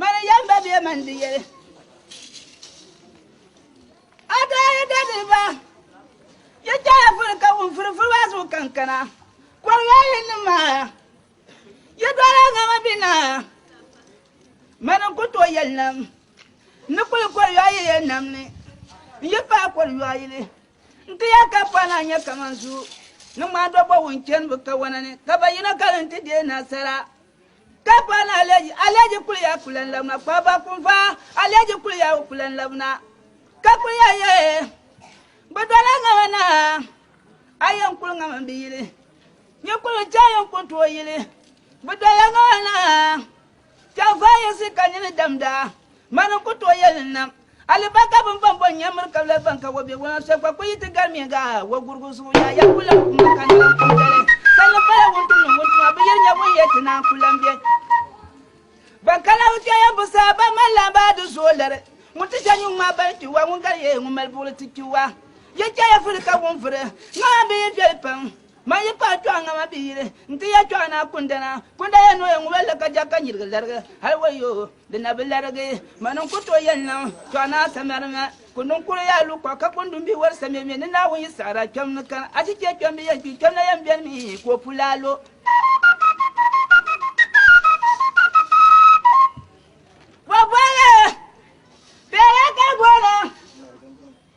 Mani yɛm ba bɛ mani di yɛli. A daa yi dali ba, yi chɛya furi ka wun furi furi maa zuɣu kankana. Kɔriga yi ni maa, yi dɔla ŋama bi naa. Mani ku tooi yɛli nam, n ni kuli kɔri yɔɔ yi yɛn nam ni, n yi paai kɔri yɔɔ yili. N ti yɛli ka pɔi naa nyɛ kaman zuu ni ŋmaandɔbɔ wun chani bɛ kawana ni, ka ba yino ka di ni ti deei nasara. Ka pa na aleji aleji kuliya kulan labna kpa ba kunfa aleji kuliya o kulan labna ka kuliya ye bi dɔla ŋama na a yɛn kuli ŋama bi yili nyi kuli chɛ yɛn kuli tooi yili bi dɔla ŋama na chɛn fa yisi ka nyini damda Mani n ku tooi yɛli n nam alibarika bini bɔn bɔn nyam miri kabila ban ka wɔbiɛgu ŋɔ soli kpa kul yi ti garimiya ga wɔgurigu zuɣu yaa ya ku lan kummi ka narim kum dali. Sanni pala wuntumnim wuntuma bi yiri nya ŋun yɛli ti naan ku lan be ban ka Naawuni kpiɔŋyambu sani ban mali lan baa di zuɣu liri ŋun ti ʒe nyuŋ maa bani kpi wa ŋun gari ya ŋun mali buɣili ti kpi wa. Yi chɛ ya vuri ka wun vuri ŋɔ maa bi yi viɛli pam. Man yi paai kpɛɣu ŋa ma bi yili n ti ya kpɛɣu naa kundana. Kunda ya ni o ya ŋubal li ka ja ka nyirigi larigi. Hal wayo, di na bi larigi. Man n ku tooi yɛli niŋ kpɛɣu naa samara ŋa. Kundi n kuri ya lu kɔɣu ka kundi n bi wari samimi ni Naawuni yi saɣiri a kpɛm ni kani. Achichɛ kpɛmbi yɛn kpi, kpɛmna yɛn beni mi ka o pula a lo. Bɔ boli bela ka bɔra.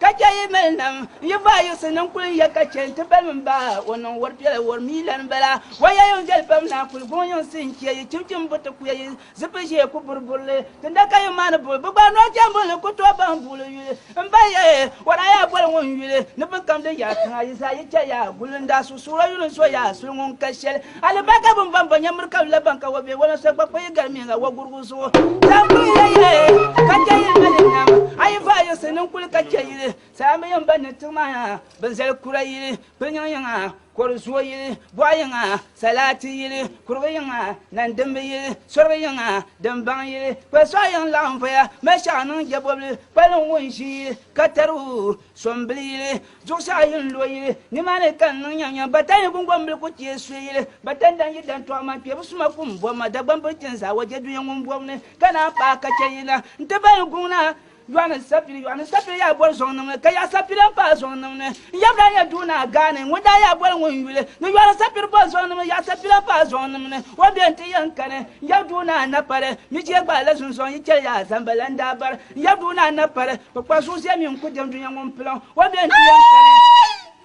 Ka chɛ yi mali nam, n yi vaa Yusuf ni n kul ya ka chɛ nti balim m ba o niŋ wari piɛla wari mi lan bala. O ya yuŋ viɛli pam naa kul guŋ yuŋ sihi n-chɛ yi chimchim buti ku ya yi zipil ʒee ku buri buri li. Tinda ka yi maani bul bi gba noo chɛmbul ni ku tooi baŋ buɣili yuli m ba ya e, o daa yaa boli ŋun yuli ni biŋkam din yaai tiŋa yi zaa yi chɛ ya gul n daa suɣusuɣur o yuli n so ya suli ŋun ka shɛli. Hali ba ka bɛn baŋ ba nya miri ka la baŋ ka wa be wala so gba kpa yi galimiya la wagurugu zuɣu. Zaŋ kuli yɛliya e, ka chɛ yili mali nam. A yi vaai yiɣisi ni n kuli ka chɛ yili, saha mi yɛn baŋ ni tiŋ maa yaa bɛ zali kura yili, kpiliŋ yiŋa, kɔdu zuo yili, bɔɣa yiŋa, salaati yili, kurigu yiŋa, nandimbi yili, sorigu yiŋa, dimbaŋ yili, kpali sɔɣu yiŋ laɣim voya mali shɛɣu niŋ jɛbɔbili, kpaliŋ ŋun ʒi yili ka tari o. So n bili yili, zuɣusaa ayi n lo yili, ni maa ni ka n niŋ nya nya. Batan ni gungoŋ bili ku teei soya yili, batan dan yi dan tɔɣi ma, kpebu suma ku n bɔbi ma, Dagbaŋ bili ti n zaa wa je dunia ŋun bɔbu ni, ka naan paai ka chɛ yina n ti bahi guŋ na. Yɔɣu ni sapili, yɔɣu ni sapili yaa boli zɔŋ nim ni, ka yaɣa sapili n paai zɔŋ nim ni. N yaba daa nyɛ Dunia Gaani, ŋun daa yaa boli ŋun yuli, ni yɔɣu ni sapili boli zɔŋ nim ni, yaɣa sapili n paai zɔŋ nim ni. O bɛn ti yɛn kani, n yaba Dunia Napali, mi chɛ gbaai la zunzɔŋ yi chɛli yaa zamba la n daa bari. Ya duhi na na pali kpukpa zuɣu zɛ mi n-ku dem dunia ŋun pilim o bɛ n-ti yan kani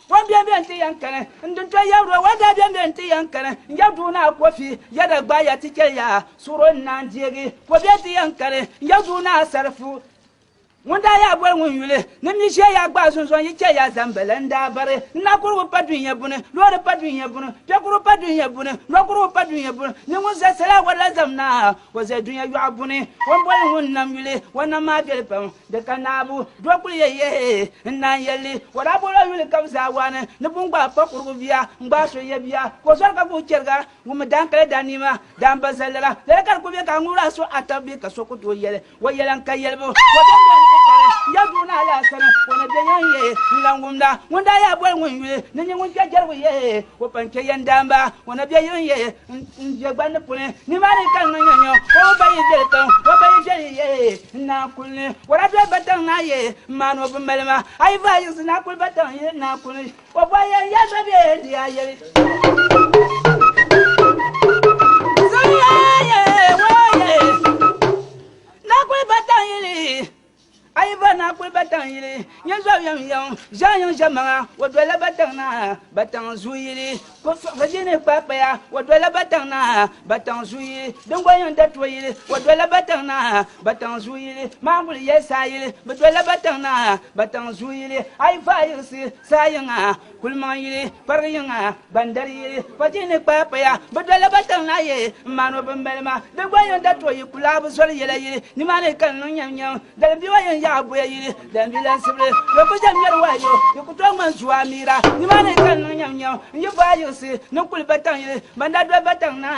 o bɛ bɛ n-ti yan kani n din to ya ro wa daa bɛ bɛ n-ti yan kani n ya duhi na kofi ya da gba ya ti chɛ ya suɣuro n naan deegi ko bɛ ti yan kani n ya duhi na sarifu ŋun daa ya boli ŋun yuli ni mi ʒiɛ ya gbaai zunzɔn yi chɛ ya zambala n daa bari n na kurigu pa dunia buni loori pa dunia buni pɛkuru pa dunia buni nɔkurigu pa dunia buni ni ŋun zɛ sala wala zam na O zali dunia yɔɣu buni, o ni boli ŋun nam yuli o nam maa viɛli pam, di ka naabu. Di o kuli yɛli, Yɛhi! N Naa n-yɛli li, o daa bol o yuli ka bɛ zaa waani ni bɛ ni gbaai pakurigu bia n-gbaai so n-yɛ bia ka o zɔri ka guui chɛriga. Ŋun mi daan kali daa niɛma, daan ba zali lala, lala ka di kuli be ka a ŋubir a suhu ata bɛ ka so ku tooi yɛli o yɛla n-ka yɛlibu. O daa be n-ti kari n ya duu naa laa sani, o ni bɛ yɛn yɛhi n-lan wumda. Ŋun daa yaa boli ŋun yuli ni nyɛ ŋun kpe jɛrigu yɛhi o pa n-chɛ yɛn daan ba, o ni bɛ yɛn yɛhi N-je gbanni puni, nimaani ka n-niŋ ya nyo, ka o bayi beli tiŋ, o bayi sheli ye n naa kuli ni. Wala be ba tiŋ naa ye m maani o bi mali ma, a yi vaa yiɣisi naa kuli ba tiŋ ye n naa kuli ni. O bɔhi ya n ya so be n di a yeli. Zuliya ye, woo ye, naa kuli ba tiŋ yeli. A yi va naa kuli Bataŋ yili, nyɛ zɔbu yɛm yɛm zaa yiŋ ʒɛmaŋa, o dolila Bataŋ naa, Bataŋ zuu yili. Ko fiɣisi di ni kpaai paya, o dolila Bataŋ naa, Bataŋ zuu yili. Din gba yiŋ Datuwa yili, o dolila Bataŋ naa, Bataŋ zuu yili. Maanguli yɛli saa yili, bɛ dolila Bataŋ naa, Bataŋ zuu yili. A yi va a yiɣisi saa yiŋa. Kulimaŋ yili kparigi yiŋa ban dali yi pɔchi ni kpaai paya bi doli ba tiŋ na ye n maan o bin mali ma di gba yin da tooi yi kulaa bi zoli yɛla yili ni maa ni ka n niŋ nyɛm nyɛm dalim biwa yin yaɣa boya yili dalim bi lansibili yo ku jem ŋmɛri wahi yo di ku tooi ŋmani zuwa miira ni maa ni ka n niŋ nyɛm nyɛm n yi vaai yiɣisi niŋ kuli ba tiŋ yili ban da doli ba tiŋ na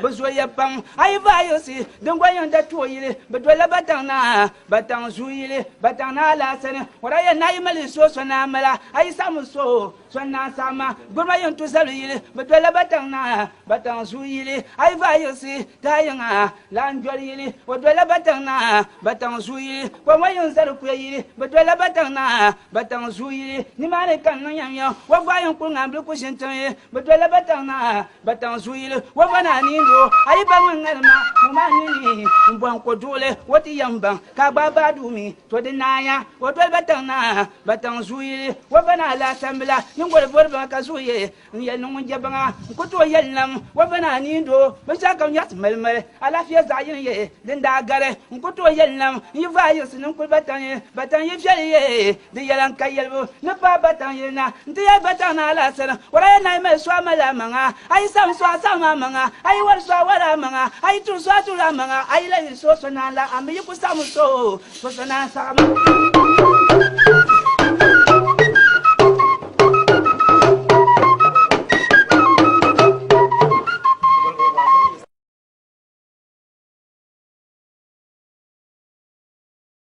bi zooya pam a yi vaai yiɣisi din gba yin da tooi yili bi doli ba tiŋ na Bataŋ zuu yili Bataŋ Naa Alaasani Wara yɛn naa yi mali yi suo sɔnaa m-mala, a yi saɣim n suo sɔnaa saɣim ma. Gburima yɛn tu zabili yili bɛ dolila Bataŋ Naa, Bataŋ zuu yili a yi vaai yiɣisi taha yiŋa, Laanjoli yili o dolila Bataŋ Naa, Bataŋ zuu yili kɔŋwa yiŋ zali kuya yili bɛ dolila Bataŋ Naa, Bataŋ zuu yili nimaani ka n niŋ yɛm yɛŋ wa gbaai yiŋ kuli ŋaanbili ku ʒini tiŋ yili bɛ dolila Bataŋ Naa. Bataŋ zuyili wo ba naa ni lo a yi ba ŋun ŋalima ŋɔ maa nini n bɔŋ ko duɣili wo ti yɛn baŋ ka a gbaai baa duu mi to di naaya o doli bataŋ naa bataŋ zuyili wo ba naa laa tambila nyingoli bori baŋa ka zuɣu ye n yɛli ni ŋun je baŋa n ku tooi yɛli nam wo ba naa ni lo binshɛɣu kam nyɛɣisi mali mali alaafia zaɣ yini ye din daa gari n ku tooi yɛli nam n yi vaa yiɣisi ninkuli bataŋ ye bataŋ yi viɛli ye Di yɛla n ka yɛlibu ni paai bataŋ yili na, n ti yɛli bataŋ ni alaasiri, Wara ya naai mali so a mali a maŋa, a yi saɣim so a saɣim a maŋa, a yi wari so a wari a maŋa, a yi tuhi so a tuhi a maŋa, a yi lahi yiri so so naan la a mi yi ku saɣimi so o, ka so naan saɣimi.